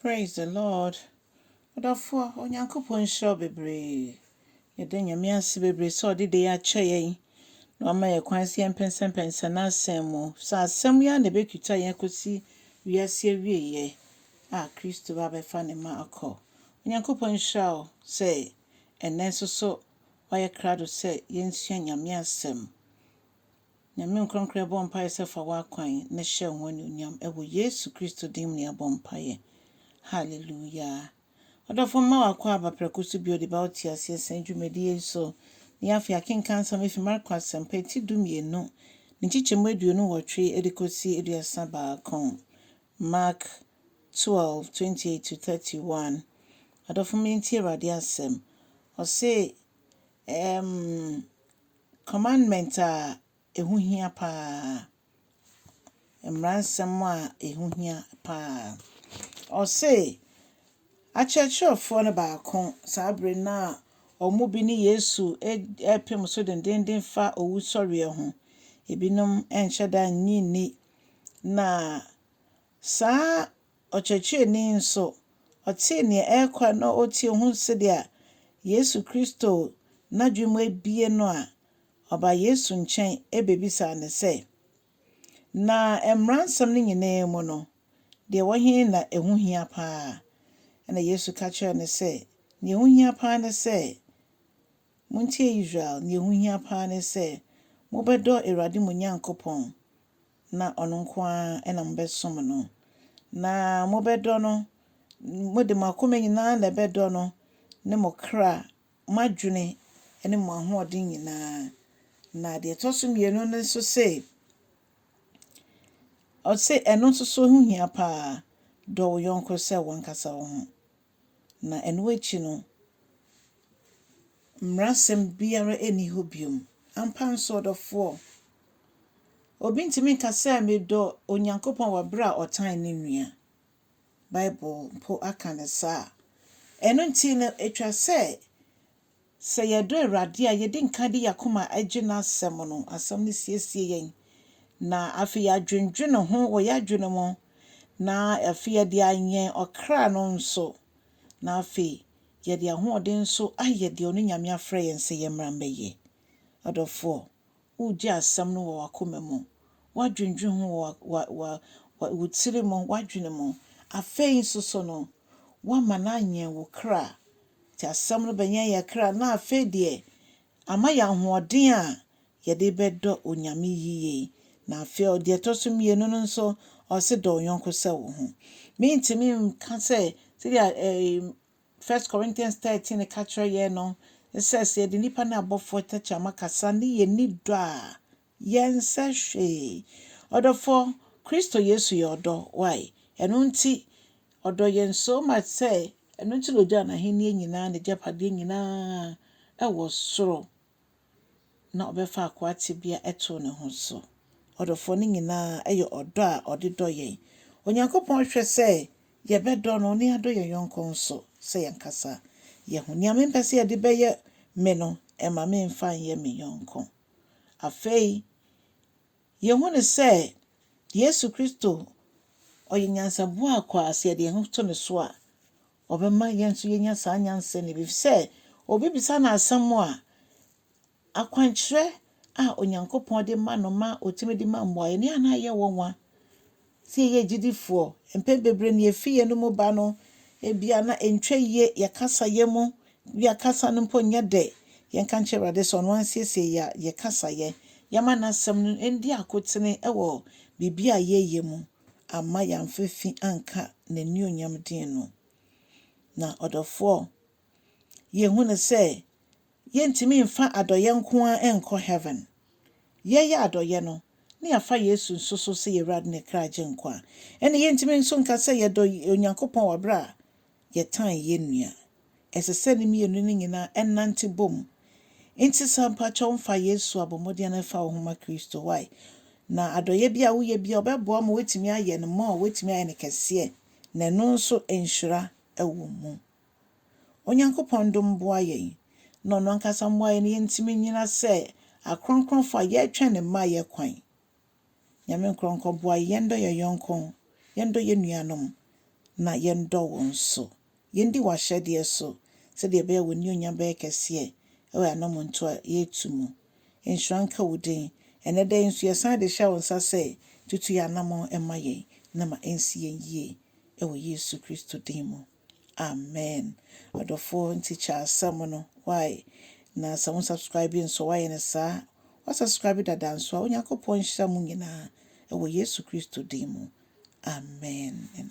Praise the Lord ɔdɔfoɔ Onyankopɔn nhyira wo bebree yɛda Nyame ase bebree sɛ ɔde dei akyɛ yɛn na wama yɛ kwan sɛ yɛmpɛnsɛmpɛnsɛ n'asɛm mu sɛ asɛm yi ara na ɛbɛtwita yɛn akɔsi wiase awieɛ a Kristo ba bɛfa ne ma akɔ Onyankopɔn nhyira wo sɛ ɛnnɛ nso so wayɛ krado sɛ yɛnsua Nyame asɛm Nyame nkorankorɛ yɛbɔ mpaeɛ sɛ fa w'akwan no hyɛ ho anuonyam wɔ Yesu Kristo din mu na yɛabɔ mpaeɛ. Hallelujah. Ɔdɔfoɔ mma w'akoa aba prɛko so bio de bɛwo teaseɛ sɛn dwumadie yi so. Ne afei akenkan nsɛm afi Marko asɛmpa eti du mmienu ne nkyekyɛmu aduonu nwɔtwe de kɔsi aduasa baako. Mark twelve, twenty eight to thirty one. Adɔfo mma yɛntie Awurade asɛm. Ɔse, ɛɛm. Commandment a ɛho hia paa. Mmaransɛm a ɛho hia paa. Ɔse, akyerɛkyerɛfoɔ no baako saa bere no a wɔn bi ne Yesu ɛrepem so dendeenden fa owusɔreɛ ho. Ebinom ɛnhyɛ da nnye nni. Na saa Ɔkyerɛkyerɛni nso, ɔtee nea ɛrekɔ na otie hu sɛdeɛ Yesu Kristo n'adwene mu abue no a, ɔbaa Yesu nkyɛn bɛbisaa no sɛ, Na mmaransɛm no nyinaa mu no, deɛ ɛwɔ he na ɛho hia paa? Ɛnna Yesu ka kyerɛɛ no sɛ, Deɛ ɛho hia paa ne sɛ, Montie Israel, deɛ ɛho hia paa ne sɛ, mobɛdɔ Awurade mo Nyankopɔn, na ɔno nko ara na mobɛsom no, na mobɛdɔ no, mode mo akoma nyinaa na ɛbɛdɔ no, ne mo kra, mo adwene ne mo ahoɔden nyinaa. Na deɛ ɛtɔ so mmienu no nso se, ɔse ɛno nso so ho hia paa, dɔ wo yɔnko sɛ w'ankasa wo ho. na ɛno akyi no, mmarasɛm biara nni hɔ bio. Ampa nso, ɔdɔfoɔ, obi ntumi nka sɛ medɔ Onyankopɔn wɔ berɛ a ɔtan ne nua. Bible mpo aka no saa. Ɛno nti no, ɛtwa sɛ Sɛ yɛdɔ Awurade a, yedi nkan de yɛn akoma gye n'Asɛm no. Asɛm no siesie yɛn, na afei yɛadwendwene ho wɔ yɛn adwene mu, na afei yɛde awɛn ɔkra no nso, na afei yɛde ahoɔden nso ayɛ deɛ ɔno Nyame afrɛ yɛn sɛ yɛmmra mmɛyɛ. Ɔdɔfoɔ, Wogye asɛm no wɔ w'akoma mu, woadwendwen ho wɔ wa, wa, wa, wo tiri mu, w'adwene mu. Afei nso so no, woama no anyɛn wo kra. Nti asɛm no bɛnyɛn yɛn kra, na afei deɛ, ama yɛn ahoɔden a yɛde bɛdɔ Onyame yiye. Na afei ɔ, deɛ ɛtɔ so mmienu no nso, ɔse, Dɔ wo yɔnko sɛ wo ho. Merentumi nka sɛ, sɛdeɛ ɛɛ, First Corinthians thirteen ka kyerɛ yɛn no sɛ, sɛ yɛde nnipa ne abɔfoɔ tɛkyerɛma kasa ne yɛnni dɔ a, yɛnsɛ hwee. Ɔdɔfoɔ, Kristo Yesu yɛ ɔdɔ. Why? Ɛno nti Ɔdɔ yɛn so much sɛ ɛno nti na ɔgyaa N'ahennie nyinaa, N'agyapadeɛ nyinaa wɔ soro. na ɔbɛfa akoa tebea too ne ho so. Ɔdɔfoɔ no nyinaa yɛ ɔdɔ a ɔde dɔ yɛn. Onyankopɔn hwɛ sɛ yɛbɛdɔ no ne yɛadɔ yɛn yɔnko nso sɛ yɛn ankasa yɛn ho. Nea mempɛ sɛ yɛde bɛyɛ me no, mma memfa nyɛ me yɔnko. Afei, yɛhu no sɛ Yesu Kristo, ɔyɛ nyansaboa a kwa sɛ yɛde yɛn ho to ne so a, Ɔbɛma yɛn nso yɛanya saa nyansa no bi, ɛfiri sɛ ɔbɛbisa no asɛm a, akwankyerɛ a Onyankopɔn de ma no ma ɔtumi de ma mmuaeɛ no, yɛn na ɛyɛ wɔn nwa. Sɛ yɛyɛ agyidifoɔ, mpɛn bebree no yɛfi yɛn no mu ba no, ebia na ɛntwa yie, yɛ kasayɛ mu, bia kasa no mpo nyɛ dɛ. Yɛnka nkyerɛ Awurade sɛ ɔno ara nsiesie yɛn kasayɛ, yɛma n'asɛm no ɛndi akotene wɔ biribi a yɛyɛ mu. amma yɛamfa fi anka n'anuonyam din no. Na ɔdɔfoɔ, yɛhu no sɛ yɛntumi mfa adɔeɛ nko ara nkɔ Heaven. Yɛyɛ adɔeɛ no, na yɛafa Yesu nso so sɛ yɛn Awurade ne kra Agyenkwa. Ɛnna yɛntumi nso nka sɛ yɛdɔ Onyankopɔn wɔ berɛ a yɛtan yɛn nua. Ɛsɛ sɛ ne mmienu no nyinaa nante bom. Enti sɛ mpakyɛw mfa yɛn su a bɔ mmɔden ara fa wo ho ma Kristo. Why? Na adɔyɛ bi a woyɛ biara ɔbɛboa wo ma woatumi ayɛ no more, woatumi ayɛ no kɛseɛ, na ɛno nso nhyira wɔ mu. Onyankopɔn dom boa yɛn, na ɔno ankasa mmoa yɛn na yɛntumi nnyina sɛ akronkronfo a yɛretwɛn ne mmaeɛ kwan. Nyame nkorɔnkɔ boa yɛn, yɛndɔ yɛn yɔnko, yɛndɔ yɛn nuanom, na yɛndɔ wo nso. Yɛndi w'ahyɛdeɛ so, sɛdeɛ ɛbɛyɛ a w'anionyam bɛyɛ kɛseɛ wɔ yɛn anɔmɔntuo a yɛretu mu. Nhyira nka wo din. Ɛnnɛ da yi nso yɛsan de hyɛ wo nsa sɛ tutu yɛn anamɔn ma yɛn, na ma ɛnsi yɛn yie wɔ Yesu Kristo din mu. Amen adɔfoɔ nti kyɛ asɛm no wai na sɛ wo subscribe nso wayɛ no saa wa subscribe dada nso a Onyankopɔn nhyira mo nyinaa ɛwɔ Yesu Kristo din mu Amen.